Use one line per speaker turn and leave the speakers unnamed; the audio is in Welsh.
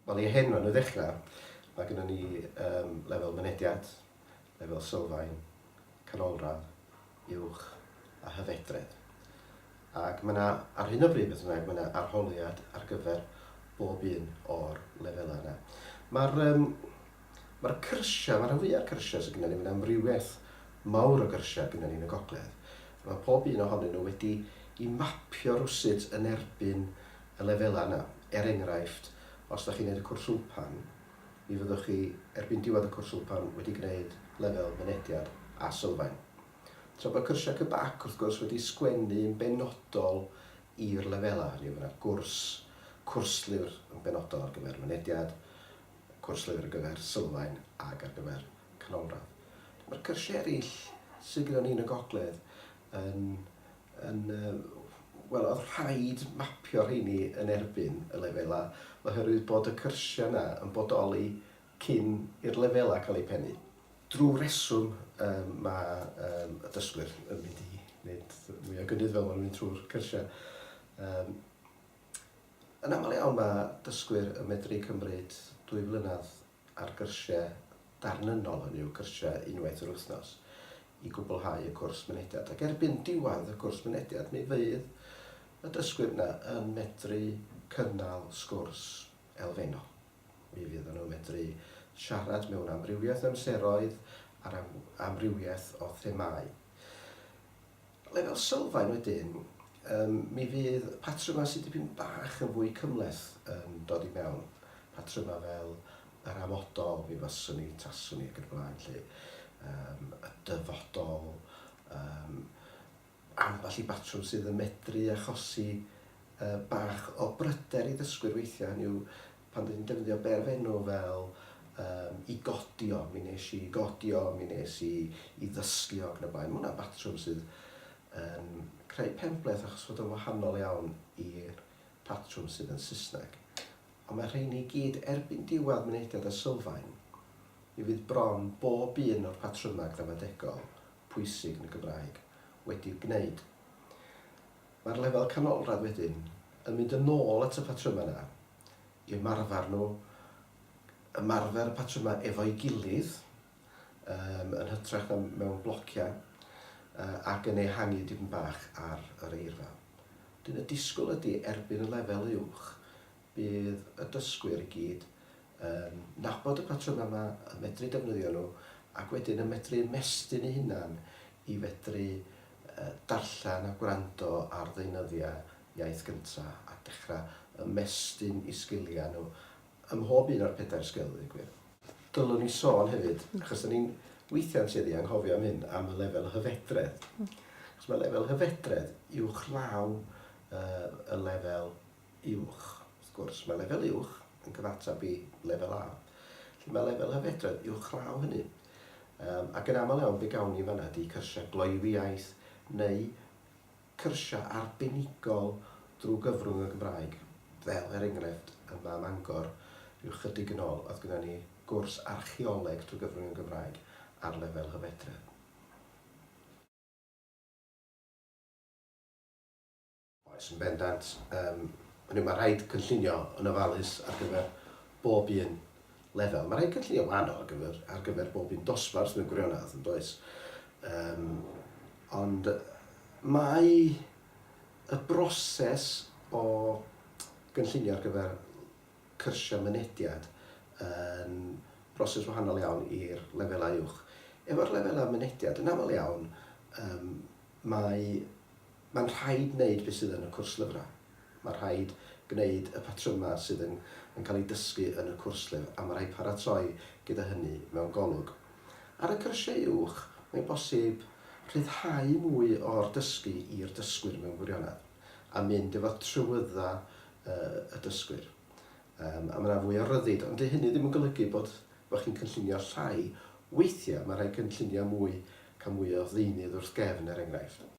Wel, i hyn maen nhw i ddechrau, mae gennyn ni yym lefel mynediad, lefel sylfaen, canolradd, uwch a hyfedredd. Ac mae 'na, ar hyn o bryd beth bynnag, mae 'na arholiad ar gyfer bob un o'r lefelau yna. Ma'r yym Mae'r cyrsiau, mae rhan fwyaf o'r cyrsiau sydd gyda ni, mae yna amrywiaeth mawr o gyrsiau gyda ni yn y gogledd, a mae pob un ohonyn nhw wedi'i mapio rywsut yn erbyn y lefelau yna. Er enghraifft, os ydych chi'n gwneud y cwrs wmpan, mi fyddwch chi, erbyn diwedd y cwrs wmpan, wedi gwneud lefel Mynediad a Sylfaen. Tra bod cyrsiau CBAC, wrth gwrs, wedi sgwennu yn benodol i'r lefelau, hynny yw, mae yna gwrs, cwrs llyfr yn benodol ar gyfer Mynediad, cwrs lifr ar gyfer sylfaen ac ar gyfer canolradd. Mae'r cyrsiau eraill sydd gyda ni yn y gogledd yn, yn wel, oedd rhaid mapio rheini yn erbyn y lefelau oherwydd bod y cyrsiau yna yn bodoli cyn i'r lefelau cael eu pennu. Drwy reswm um, mae um, y dysgwyr yn mynd i wneud mwy o gynnydd fel maen nhw'n mynd trwy'r cyrsiau. Um, Yn aml iawn mae dysgwyr yn medru cymryd dwy flynedd ar gyrsiau darnynnol, hynny yw cyrsiau unwaith yr wythnos, i gwblhau y cwrs mynediad. Ac erbyn diwedd y cwrs mynediad mi fydd y dysgwyr yna yn medru cynnal sgwrs elfennol. Mi fydd nhw'n medru siarad mewn amrywiaeth o amseroedd ar amrywiaeth o themâu. Lefel sylfaen wedyn, yym, mi fydd patrymau sydd dipyn bach yn fwy cymhleth yn dod i mewn. Patrymau fel yr amodol, mi faswn i, taswn i ac yn y blaen 'lly. Yym, y dyfodol, yym, ambell i batrwm sydd yn medru achosi yy bach o bryder i ddysgwyr weithiau, hynny yw, pan dw i'n defnyddio berfenw fel um, i godio, mi nes i godio, mi nes i, i ddysgu ac yn y blaen. Mae hwnna'n batrwm sydd yn um, creu pembleth achos fod yn wahanol iawn i'r patrwm sydd yn Saesneg. Ond mae rheini i gyd erbyn diwedd mynediad a sylfaen. Mi fydd bron bob un o'r patrymau gramadegol pwysig yn y Gymraeg wedi'u gwneud. Mae'r lefel canolradd wedyn yn mynd yn ôl at y patrymau yna, i ymarfer nhw, ymarfer y patrymau efo'i gilydd, yym, yn hytrach na mewn blociau, yy, ac yn ehangu dipyn bach ar yr eirfa. Wedyn y disgwyl ydy, erbyn y lefel uwch, Bydd y dysgwyr i gyd yn nabod y patrymau yma, yn medru defnyddio nhw ac wedyn yn medru ymestyn eu hunain i fedru darllen a gwrando ar ddeunyddiau iaith gyntaf a dechrau ymestyn eu sgiliau nhw ym mhob un o'r pedair sgil, ddweud y gwir. Dylwn i sôn hefyd, achos dan ni'n weithiau'n tueddu anghofio am hyn, am y lefel hyfedredd. Achos mae lefel hyfedredd uwchlaw y lefel uwch. Wrth gwrs, mae lefel uwch yn cyfateb i lefel A. Felly mae lefel hyfedredd uwchlaw hynny. Um, ac yn aml iawn fe gawn ni fanna di cyrsiau gloywiaeth neu cyrsiau arbenigol drwy gyfrwng y Gymraeg. Fel er enghraifft yma am Angor, rhyw chydig yn ôl, oedd gyda ni gwrs archeoleg drwy gyfrwng y Gymraeg ar lefel hyfedredd. Oes, yn bendant. Yym, hynny yw, mae rhaid cynllunio yn ofalus ar gyfer bob un lefel. Mae rhaid cynllunio wahanol ar gyfer, ar gyfer bob un dosbarth mewn gwirionedd, yn does? Um, ond mae y broses o gynllunio ar gyfer cyrsiau mynediad yn broses wahanol iawn i'r lefelau uwch. Efo'r lefelau mynediad, yn aml iawn, um, mae Mae'n rhaid gwneud beth sydd yn y cwrs lyfrau. Mae'n rhaid gwneud y patrymau sydd yn yn cael eu dysgu yn y cwrs llyfr a mae'n rhaid paratoi gyda hynny mewn golwg. Ar y cyrsiau uwch, mae'n bosib rhyddhau mwy o'r dysgu i'r dysgwyr mewn gwirionedd a mynd efo trywyddau y dysgwyr a mae yna fwy o ryddid. Ond 'di hynny ddim yn golygu bod bod chi'n cynllunio llai. Weithiau mae'n rhaid cynllunio mwy, cael mwy o ddeunydd wrth gefn er enghraifft.